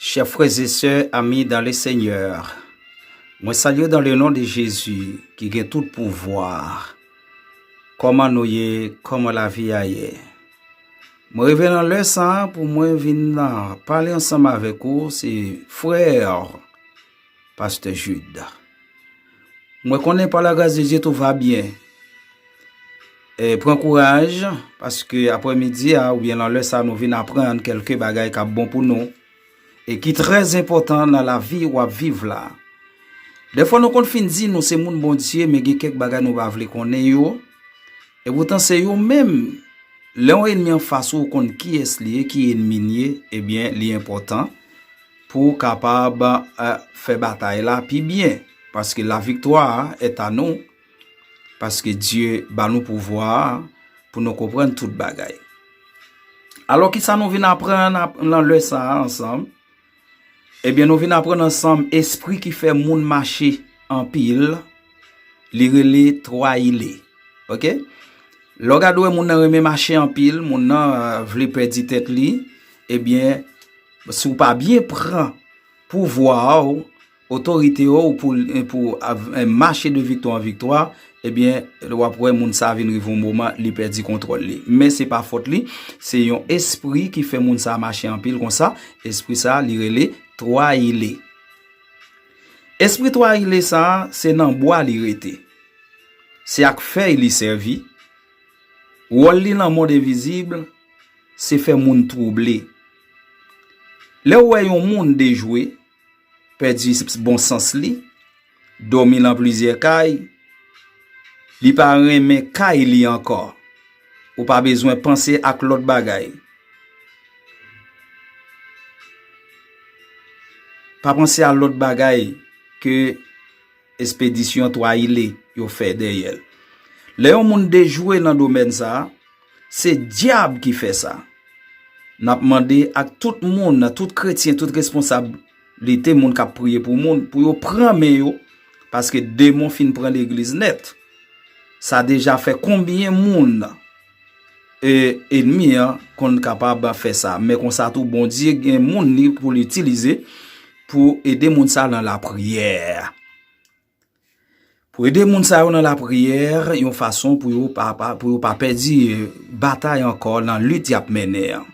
Chè frèzesè ami dan le senyè, mwen salye dan le non de Jezi ki gen tout pou vwa. Koman nou ye, koman la vi a ye. Mwen reve nan lè sa pou mwen vin nan pale ansanm avèk ou se frè. Pastè Jude. Mwen konnen pa la gras de Dye tou va byen. E pran kouraj, paske apre midi a ou byen lan lè sa nou vin aprann kelke bagay kap bon pou nou. E ki trèz enpotan nan la vi wap viv la. De fwa nou konn fin di nou se moun bon Dye men gen kek bagay nou pa vle konnen yo. E poutan se yo menm. Lè yon enmi an fas ou ou konn kiyes li e ki enmi li e byen li enpotan. pou kapab fè batay la pi byen, paske la viktwa et a nou, paske Dye ba nou pouvwa a, pou nou konprann tout bagay. Alò ki sa nou vin aprann nan lè sa a ansanm? Ebyen nou vin aprann ansanm espri ki fè moun mache anpil, li rele Troyile. Ok? Lè w gade wè moun nan renmen mache anpil, moun nan vle pèdi tèt li, ebyen Si w pa byen pran pouvwa ou, otorite ou pou mache de viktwa an viktwa, ebyen w ap wè moun sa vin rive yon moman li pèdi kontwòl li. Men se pa fòt li, se yon espri ki fè moun sa mache anpil konsa, espri sa li rele Twayile. Espri Twayile sa se nan bwa li rete. Se ak fèy li sèvi. Wòl li lan mond envizib se fè moun twouble. Lè w wè yon moun dejwe, pèdi bon sans li, dòmi lan plizyè kay, li pa renmen kay li ankò, ou pa bezwen panse ak lòt bagay. Pa panse a lòt bagay ke. Espedisyon 3 ile yo fè dèyè l. Lè yon moun dejwe nan domèn sa, se dyab ki fè sa. N ap mande ak tout moun, tout kretyen, tout responsablite moun k ap priye pou moun, pou yo pran men yo, paske demon fin pran legliz nèt. Sa deja fè konbyen moun? E enmi an konn kapab fè sa. Men konsa tou Bondye gen moun li pou li itilize pou ede moun sa nan lapriyè. Pou ede moun sa yo nan lapriyè, yon fason pou yo pa pèdi batay ankò nan lit y ap mène an.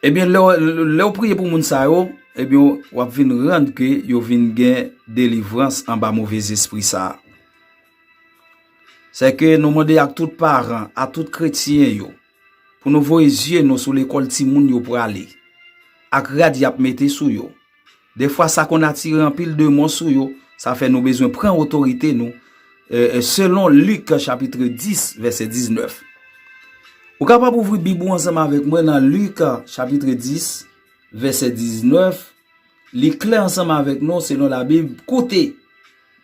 Ebyen lè ou priye pou moun sa yo, ebyen w ap vin rann ke yo vin gen delivrans anba move zespri sa. Se ke nou mande ak tout paran, ak tout kretyen yo, pou nou voye zye nou sou lekòl timoun yo prale, ak rad y ap mete sou yo. Defwa sa konn atire anpil demon sou yo, sa fè nou bezwen pran otorite nou, selon Lik chapitre 10 vèsè 19. Ou kapab ouvri bib ou ansanm avèk mwen nan Lik chapitre 10 vèsè 19. Li klè ansanm avèk nou, selon Labib, Koute!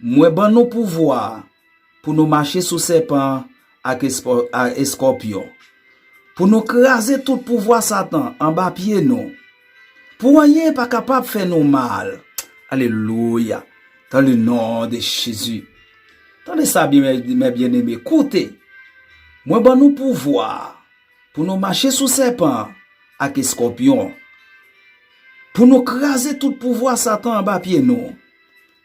Mwen ban nou pouvwa pou nou mache sou sèpan ak eskòpyon, pou nou kraze tout pouvwa Satan anba pye nou, pou anyen pa kapab fè nou mal. Alelouya! Dan le non de Jezi. Tande sa byen, mè byeneme, Koute! Mwen ban nou pouvwa. Pou nou mache sou sèpan an ak eskòpyon an. Pou nou kraze tout pouvwa Satan anba pye nou.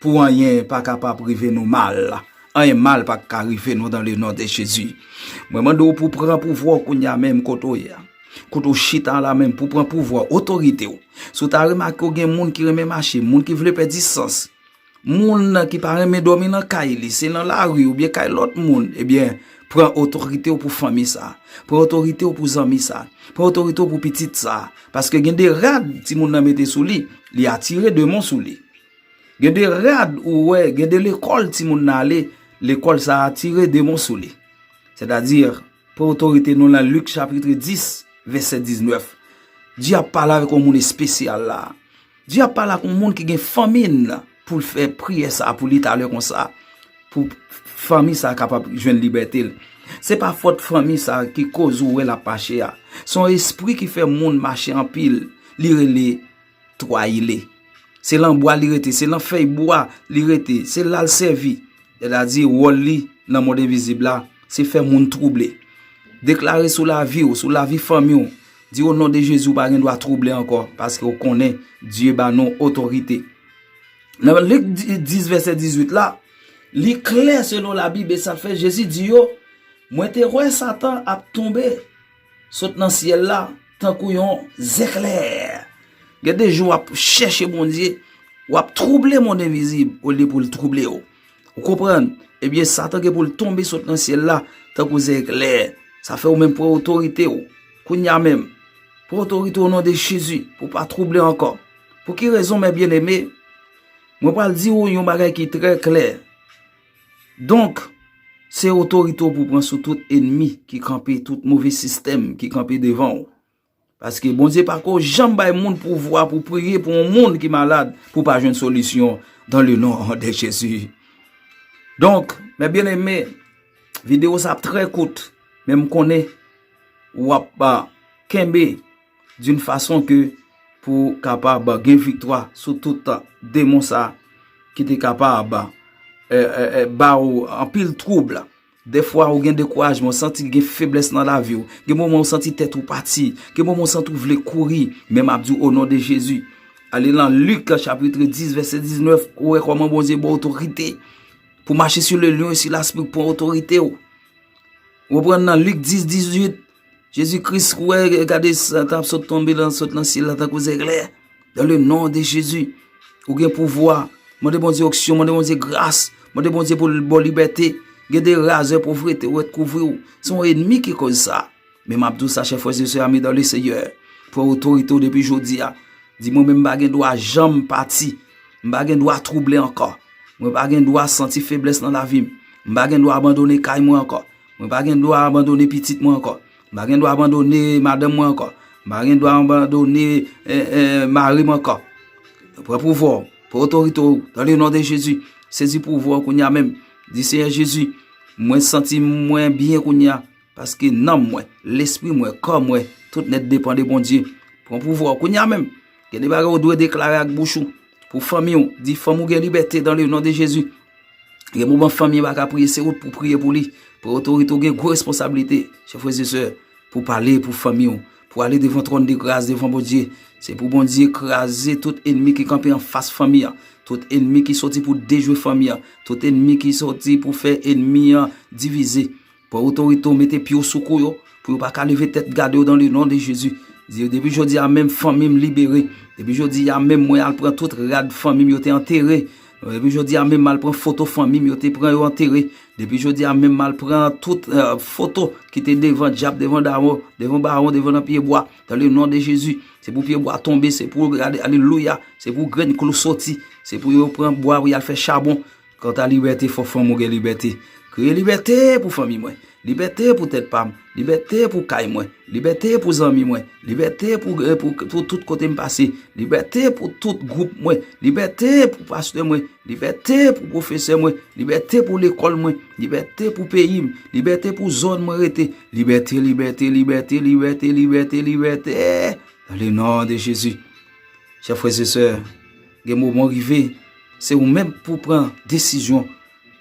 Pou anyen pa kapab rive nou mal. Anyen mal pa ka rive nou dan le non de Jezi. Mwen mande w pou pran pouvwa w kounye a menm kote w ye a. Kote w chita la menm pou pran pouvwa w, otorite w. Si w ta remake w gen moun ki renmen mache, moun ki vle pèdi sans. Moun ki pa renmen dòmi nan kay li, se nan lari oubyen kay lòt moun, ebyen, pran otorite w pou fanmi sa, pran otorite w pou zanmi sa, pran otorite w pou pitit sa, paske gen de rad timoun nan mete sou li, li atire demon sou li. Gen de rad ou wè, gen de lekòl timoun nan ale, lekòl sa atire demon sou li. Sètadi, pran otorite nou lan Lik chapitre 10, vèsè 19. Di ap pale avèk yon moun espesyal la. Dye ap pale ak yon moun ki gen fanmi l pou l fè priyè sa a pou li talè konsa, pou fanmi sa a kapab jwenn libète l. Se pa fòt fanmi sa a ki koz ou wè l ap mache a. Se yon espri ki fè moun mache anpil, li rele Twayile. Se lan bwa li rete, se lan fèy bwa li rete, se la l sèvi. Sètadi wòl li nan mond envizib la, se fè moun twouble. Deklare sou lavi ou, sou lavi fanmi ou, Di o non de Jezi ou pa gen dwa twouble ankò paske ou konnen Dye ba nou otorite. Nan Lik 10 vèsè 18 la, li klè selon labib e sa fè Jezi di yo, Mwen te wè Satan ap tonbe sot nan syèl la tankou yon zeklè. Gen de jou w ap chèche Bondye, w ap twouble mond envizib olye pou l twouble ou. Ou konprann? Ebyen satan gen pou l tonbe sot nan syèl la tankou zeklè. Sa fè ou menm pran otorite ou. Kounya menm, pran otorite ou o non de Jezi pou w pa twouble ankò. Pou ki rezon mè byeneme? Mwen pral di ou yon bagay ki trè klè. Donk, se otorite ou pou w pran sou tout enmi ki kanpe, tout move sistèm ki kanpe devan ou. Paske Bondye pa ko janm bay moun pouvwa pou priye pou yon moun ki malad pou pa jwenn solisyon dan le non de Jezi. Donk, mè byen eme, videyo sa ap trè kout, men m konnen w ap pa kenbe doun fason ke pou kapab gen viktwa sou tout demon sa ki te kapab ba ou anpil troub la. Dèfwa ou gen dekourajman, ou santi gen feblès nan lavi ou. Gen moman ou santi tèt ou pati. Gen moman ou santi ou vle kouri. Men m ap di w o non de Jezi, ale lan Lik chapitre 10 vèsè 19, ou wè kòman Bondye ba w otorite pou w mache sou le lyon e sou laspri pou w pran otorite w. Ou konprann nan Lik 10, 18? Jezi kris wè gade sa kap sot tonbe lan sot nan syèl la tankou zèklè dan le non de jezi ou gen pouvwa mande bondye oksyon mande bondye gras mande bondye pou l bò libète gen de razè povrete ou et kouvri ou son enmi ki koz sa men map dou sa chè frè se se ami dan le seyè pran otorite ou depi jodi a di mwen men m bagen dwa janm pati m bagen dwa trouble ankò mwen bagen dwa santi feblès nan lavi m m bagen dwa abandone kay mwen ankò Mwen pa gen dwa abandone pitit mwen ankò. Mwen pa gen dwa abandone madanm mwen ankò. Mwen pa gen dwa abandone mari mwen ankò. Pran pouvwa ou. Pran otorite ou. Dan le non de Jezi. Sezi pouvwa ou kounye a menm. Di Seyè Jezi, mwen santi mwen byen kounye a. Paske nanm mwen, lespri mwen, kò mwen, tout nèt depan de Bondye. Pran pouvwa ou kounye a menm. Gen de bagay ou dwe deklare ak bouch ou. Pou fanmi ou. Di fanmi ou gen libète dan le non de Jezi. Gen moman fanmi yo pa ka priye, se ou pou priye pou li. Pou otorite ou gen gwo responsabilite, chè frè se sè, pou pale pou fanmi ou, pou ale devan tròn de gras, devan Bondye. Se pou Bondye kraze tout enmi ki kanpe an fas fanmi an, tout enmi ki soti pou dejwe fanmi an, tout enmi ki soti pou fè enmi an divize. Pran otorite w mete pye w sou kou yo pou yo pa ka leve tèt gade w dan le non de Jezi. Di yo depi jodi a menm fanmi m libere. Depi jodi a menm mwen al pran tout rad fanmi m yo te antere. Depi jodi a menm m al pran foto fanmi m yo te pran yo antere. Depi jodi a menm m al pran tout foto ki te devan dyab, devan dawon, devan bawon, devan nan pye bwa dan le non de Jezi. Se pou pye bwa tonbe, se pou alelouya, se pou grenn klou soti, se pou yo pran bwa pou y al fè chabon. Kanta libète fò fanm ou gen libète Kriye libète pou fanmi mwen Libète pou tèt pam Libète pou kay mwen Libète pou zanmi mwen Libète pou tout kote m pase Libète pou tout gwoup mwen Libète pou pastè mwen Libète pou pwofesè mwen Libète pou lekòl mwen Libète pou peyi m Libète pou zòn mwen rete Libète libète libète libète libète libète nan le non de jezi chè frè se sè. Gen moman rive, se ou menm pou pran desizyon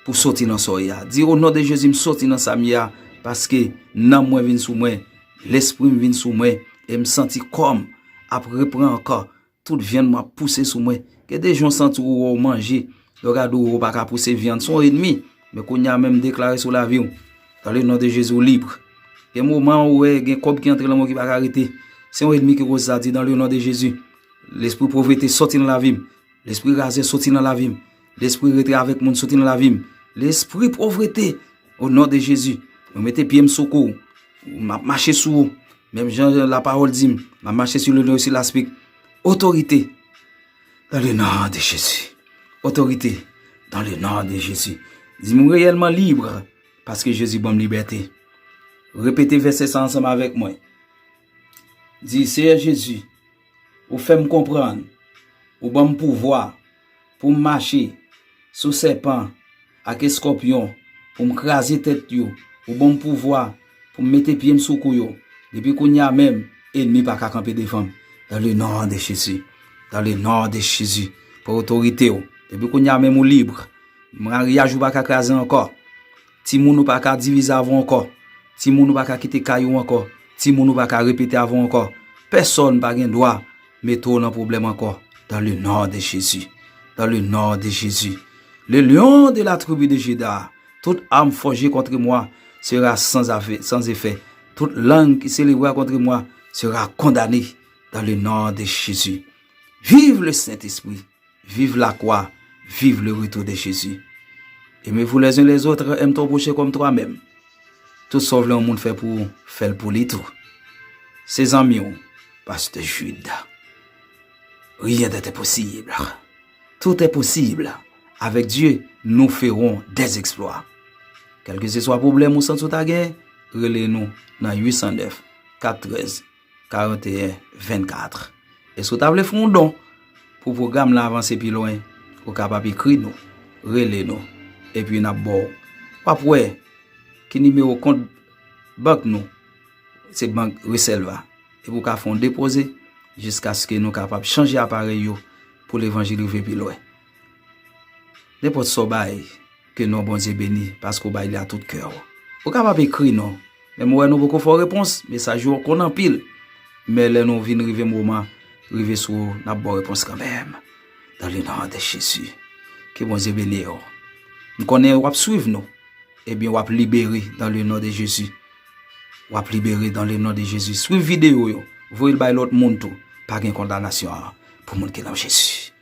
pou soti nan sa w ye a. Di o non de Jezi m soti nan sa m ye a paske nanm mwen vin sou mwen, lespri m vin sou mwen e m santi kò m ap repran ankò. Tout vyann mwen ap pouse sou mwen. Gen de jou w santi ou wè w manje, lè w gade ou ou pa ka pouse vyann, se yon enmi. Men kounye a menm m deklare sou lavi w, dan le non de Jezi ou libre. Gen moman ou wè gen kòb ki antre nan men w ki pa ka rete, se yon enmi ki koz sa, di dan le non de Jezi Lespri povrete soti nan lavi m. Lespri razè soti nan lavi m. Lespri rete avèk moun soti nan lavi m. Lespri povrete o non de Jezi mwen mete pye m sou kou w. M ap mache sou ou menm jan la pawòl di m. M ap mache sou le non e sou laspik. Otorite dan le non de Jezi. Otorite dan le non de Jezi. Di m reyèlman libre paske Jezi ban m libète. Repete vèsè sa ansanm avèk mwen. Di Seyè Jezi. Ou fè m konprann, ou ban m pouvwa, pou m mache sou sèpan ak eskòpyon, pou m kraze tèt yo, ou ban m pouvwa pou m mete pye m sou kou yo. Depi kounye a menm, enmi pa ka kanpe devan m. Dans le nom de Jésus, dans le nom de Jésus, pran otorite w. Depi kounye a menm ou libre. Maryaj ou pa ka kraze ankò. Timoun ou pa ka divize avè w ankò. Timoun ou pa ka kite kay ou ankò. Timoun ou pa ka repete avè w ankò. Pèsòn pa gen dwa mete w nan pwoblèm ankò. Dans le non de Jésus. Dans le non de Jésus. Le lion de la tribu de Juda. Tout ame fòje kontre mwa sera sans efè. Tout lang ki selevra kontre mwa sera kondane. Dans le non de Jésus. Vive le Saint Esprit. Viv la kwa viv le retou de jezi eme vou lèzin lèzotre èm ton pwoche kòm twa mèm tout sa w vle yon moun fè pou ou fèl pou li tou se zanmi w pastè jude ryen dèt enposib tout enposib avèk dye nou feron dèz eksplwa kèlke se swa pwoblèm ou santi w ta gen rele nou nan 809 413 41 24 Èske ou ta vle fè yon don pou pwogram lan avanse pi lwen? Ou kapab ekri nou, rele nou, epi n ap ba w. W ap wè ki nimewo kont bank nou, se bank Reselva, epi ou ka fè yon depoze jiskaske nou kapab chanje aparèy yo pou levanjil rive pi lwen. Nenpòt sa w bay. Ke non Bondye beni paske w bay li a tout kè w. Ou kapab ekri non, men m wè nou poko fè w repons, mesaj ou yo konn anpil. Men lè nou vin rive moman rive sou ou, n ap ba w repons kanmenm. Dans le nom de Jésus. Ke Bondye beni w. M konnen w ap swiv nou. Ebyen w ap libere dans le nom de Jésus. W ap libere dans le nom de Jésus. Swiv videyo yo, voye l bay lòt moun tou. Pa gen kondanasyon pou moun ki nan Jésus.